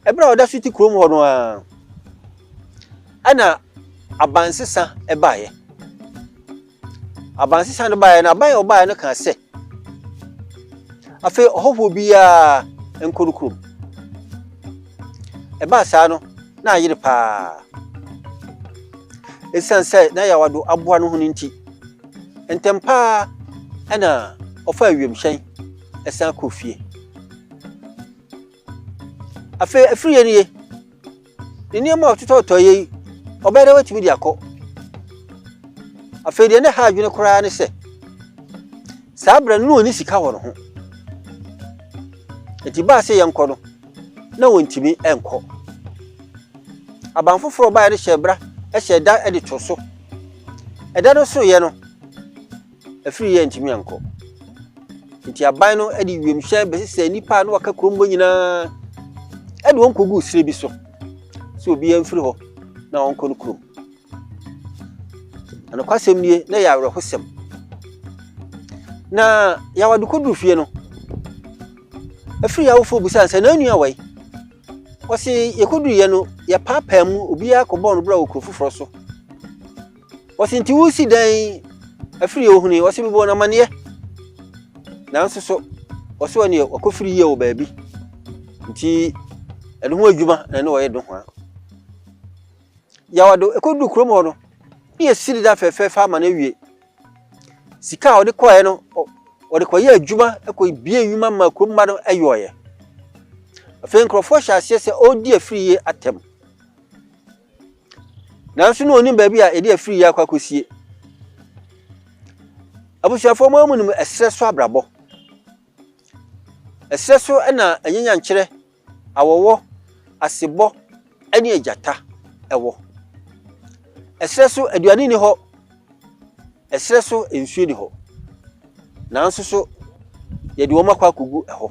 Ɛberɛ a ɔda so te kurom hɔ no ara, ɛna abansesa baeɛ. Abansesa no baeɛ no, aban a ɔbaeɛ no kaa sɛ, afei ɔhɔhoɔ biara nkɔ no kurom. Ɛbaa saa no, na ayere paa. Ɛsiane sɛ na yawado aboa no ho no nti, ntɛm paa ɛna ɔfaa wiemhyɛn ɛsan kɔ fie. Afei afiri yɛ nie, ne nneɛma a ɔtotɔtɔ yɛ yi, ɔbɛyɛ dɛ watumi de akɔ. Afei deɛ ne ha adwene koraa ne sɛ, saa berɛ no na ɔni sika wɔ ne ho. Nti baa sɛ yɛnkɔ no, na wɔntumi nkɔ. Aban foforɔ ɔbaeɛ no hyɛ bra, hyɛ da de to so. Ɛda no soroeɛ no, afiri yɛ ntumi ankɔ. Nti aban no de wiemhyɛn bɛsesɛ nnipa a na wɔaka kurom hɔ nyinaa de wɔn kɔguu serɛ bi so sɛ obiara mfiri hɔ na wɔnkɔ no kurom. Na nokwasɛm nie, na ɛyɛ awerɛhosɛm. Na Yawadu kɔduru fie no, afiri awofoɔ busaa sɛ n'anua wɔ yi. Wɔse yɛkɔduruiɛ no, yɛpaapaa mu, obiara kɔbɔɔ no bra wɔ kuro foforɔ so. Ɔse nti wosi dɛn afiri yɛ ohuni ɔse mebɔ no amaneɛ nanso so ɔse ɔneɛ wakɔfiri yie wɔ baabi nti ɛno ho adwuma na ɛne ɔyɛ do ho a yawado ɛkɔduru kurom hɔ no ne yɛsiri da fɛfɛɛfɛ ama no awie sika a ɔde kɔɛ no ɔde kɔyɛ adwuma ɛkɔ bie adwuma ma kurom ma no ayɔɔyɛ afei nkurɔfoɔ hyɛ aseɛ sɛ ɔredi afiri yie atɛm Nanso na onim baabi a yɛde afiri yi akɔ akɔsie. Abusuafoɔ mu amu nim ɛserɛ so abrabɔ. Ɛserɛ so na anyanyankyerɛ, awɔwɔ, asebɔ ne agyata wɔ. Ɛserɛ so aduane nni hɔ, ɛserɛ so nsuo nni hɔ. Nanso so yɛde wɔn akɔ akɔgu ɛhɔ.